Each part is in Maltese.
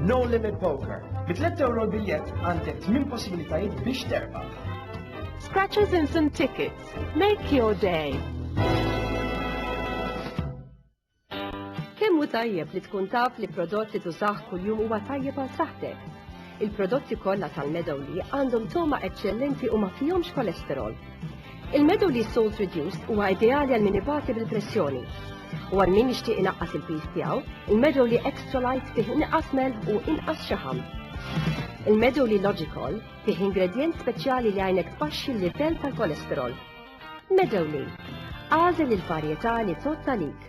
No Limit Poker. Bi 3 euro l-biljett għandek 8 possibilitajiet biex terbaħ. Scratches in some tickets. Make your day. Kemmu tajjeb li tkun taf li prodott li tużaħ kuljum huwa tajjeb għal saħtek. Il-prodotti kollha tal-Meadow li għandhom toma eċċellenti u ma fihomx kolesterol. Il-Medoli Salt Reduced huwa ideali għal min ibati bil-pressjoni. U għal min jixtieq inaqqas il-piż tiegħu, il-Medoli Extra Light fih inqas melħ u inqas xaħam. Il-Medoli Logical fih ingredjent speċjali li għajnek tbaxxi l-livell tal-kolesterol. Medoli, għażel il-varjetà li totta lik.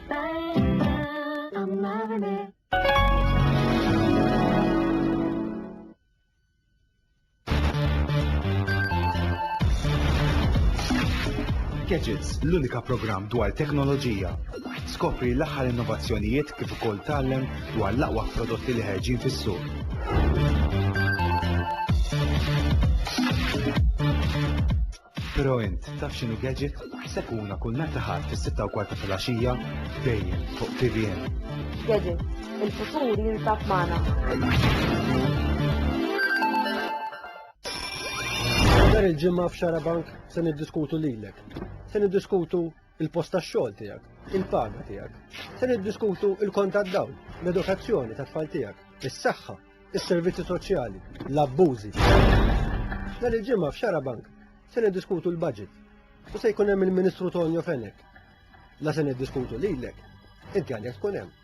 Gadgets, l-unika programm dwar teknoloġija. Skopri l-aħħar innovazzjonijiet kif ukoll tallem dwar l-aqwa prodotti li ħerġin fis-suq. Però int taf x'inhu gadget? Sekuna kull nhar ta' Ħadd fis-sitta u kwart ta' filgħaxija dejjem fuq tvn. Gadget, il-futur jinsab magħna. Nhar il-Ġimgħa f'Xarabank se niddiskutu lilek. Se niddiskutu il-post tax-xogħol tiegħek, il-paga tiegħek. Se niddiskutu il-kont tad-dawl, l-edukazzjoni tat-tfal tiegħek, is-saħħa, is-servizzi soċjali, l-abbużi. Nhar il-ġimgħa f'Xara Bank se niddiskutu l-budget u se jkun hemm il-Ministru Tonio Fenek. La se niddiskutu lilek, inti għalhekk tkun hemm.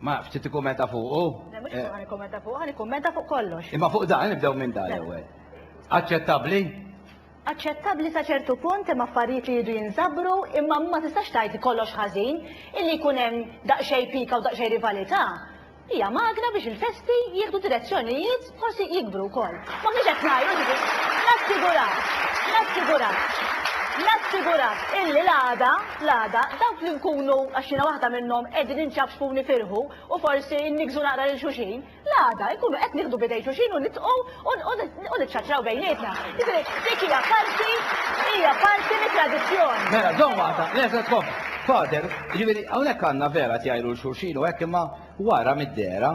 Ma ftit ikkummenta fuqu? Le mhux fuq nikkummenta fuq, nikkummenta fuq kollox. Imma fuq dan nibdew minn dan l-ewwel. Aċċettabbli? Aċċettabbli sa ċertu punt imma affarijiet li jridu jinżabru imma ma tistax tgħid kollox ħażin illi jkun hemm daqsxejn pika u daqsxejn rivalità. Hija magna biex il-festi jieħdu direzzjonijiet Forsi jikbru wkoll. M'aħniex qed ngħidu ġifieri. Nassigurak, nassigurak, nassigurak illi l-għada, l-għada, dawk li nkunu, għax jiena waħda minnhom, qegħdin inċapċpu u nifirħu u forsi nniggżu naqra lil xulxin, l-għada nkunu qed nieħdu b'idejn xulxin u nidħqu u niċċaċċraw bejnietna. Jiġifieri dik hija parti, hija parti mit-tradizzjoni. Mela, żomm waħda, le se tkompli. Fader, jiġifieri hawnhekk għandna vera tjajru lil xulxin u hekk imma wara mid-dehra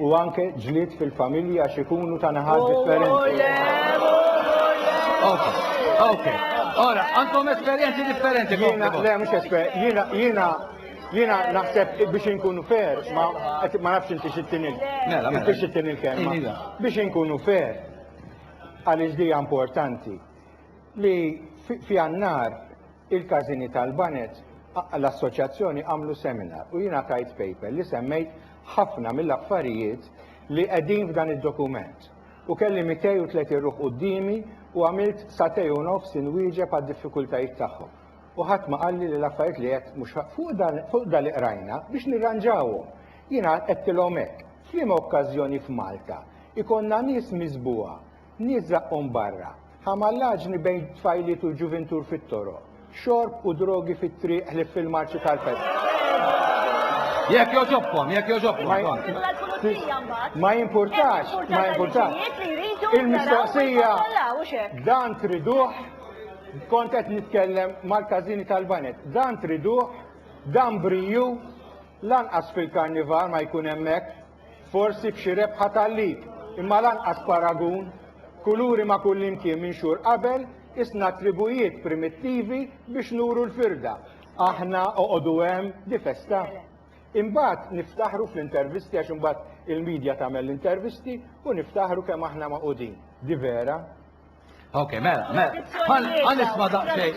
u anke ġlied fil-familji għax ikunu ta' naħat differenti. Okay, okay. Ora, għandkom esperjenzi differenti. Jiena, le, mhux esperjenzi. Jiena, jiena, jiena naħseb biex inkunu fair, ma ma nafx inti xittin il. Mela, mela. Biex xittin il-kelma. Iva. Biex inkunu fair, għaliex dija importanti, li fi għannar il-każini tal-banet, l-assoċjazzjoni għamlu seminar u jiena tajt paper li semmejt ħafna mill-affarijiet li qegħdin f'dan id-dokument. U kelli 230 ruħ quddiemi u għamilt sagħtej u nofs inwieġeb għad-diffikultajiet tagħhom. U ħadd ma qalli li l-affarijiet li għedt mhux fuq dan fuq dan li qrajna biex nirranġawhom. Jiena għedtilhom hekk, f'liema okkażjoni f'Malta jkollna nies miżbugħa Nies żaqqhom barra, ħamallaġni bejn tfajliet u ġuvintur fit-toroq, xorb u drogi fit-triq ħlief fil-marċi tal-festa. Jekk jogħġobkom, jekk jogħġobkom. Ma jimpurtax, ma jimpurtax. Il-mistoqsija dan triduh kont qed nitkellem mal-każini tal-banet. Dan triduh, dan briju, lanqas fil-karnival ma jkun hemmhekk. Forsi b'xi rebħa tal-lid, imma lanqas paragun. Kuluri ma' kullimkien minxur qabel, qisna tribujiet primittivi biex nuru l-firda. Aħna, oqogħdu hemm, di festa. Imbagħad niftaħru fl-intervisti għax imbagħad il-media tagħmel l-intervisti u niftaħru kemm aħna magħqudin. Di vera. Ok, mela, mela. Għan isma daqxej.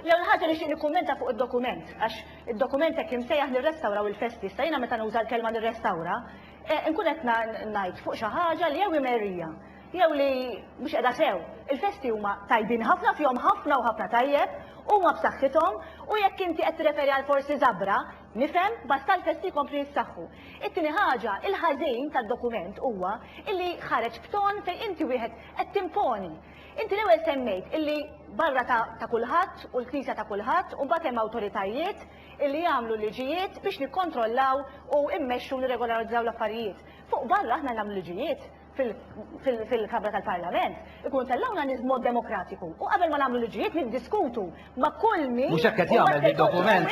Lew l-ħagġa li xini kummenta fuq il-dokument, għax il-dokument jek imsejjaħ nirrestawraw il-festi, sa jina meta nuża l-kelma nirrestawra, eh, nkun qed ngħid fuq xi ħaġa li jew imerrija, jew li mhux qiegħda sew. Il-festi huma tajbin ħafna fihom ħafna u ħafna tajjeb, huma b'saħħithom u jekk inti qed tirreferi għal forsi żabra, Nifhem, basta l-festi jkomplu jissaħħu. It-tieni ħaġa, il-ħażin tad-dokument huwa illi ħareġ b'ton fejn inti wieħed qed timponi. Inti l-ewwel semmejt illi barra ta' ta' kulħadd u l-Knisja ta' kulħadd u mbagħad hemm awtoritajiet illi jagħmlu liġijiet biex nikkontrollaw u mmexxu nirregolarizzaw l-affarijiet. Fuq barra aħna nagħmlu liġijiet. fil-Kamra tal-Parlament, ikun tellgħuna nies b'mod demokratiku. U qabel ma nagħmlu liġijiet niddiskutu ma' kull min. Mhux hekk qed jagħmel bid-dokument.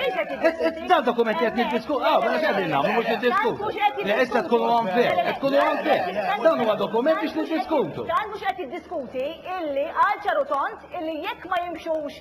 Dan dokument qed niddiskutu, ah, mela x'qegħdin nagħmlu mhux niddiskutu. Le issa tkunu hawn fih, qed tkunu hawn fih. Dan huwa dokument biex niddiskutu. Dan mhux qed jiddiskuti illi għal ċarutont illi jekk ma jimxux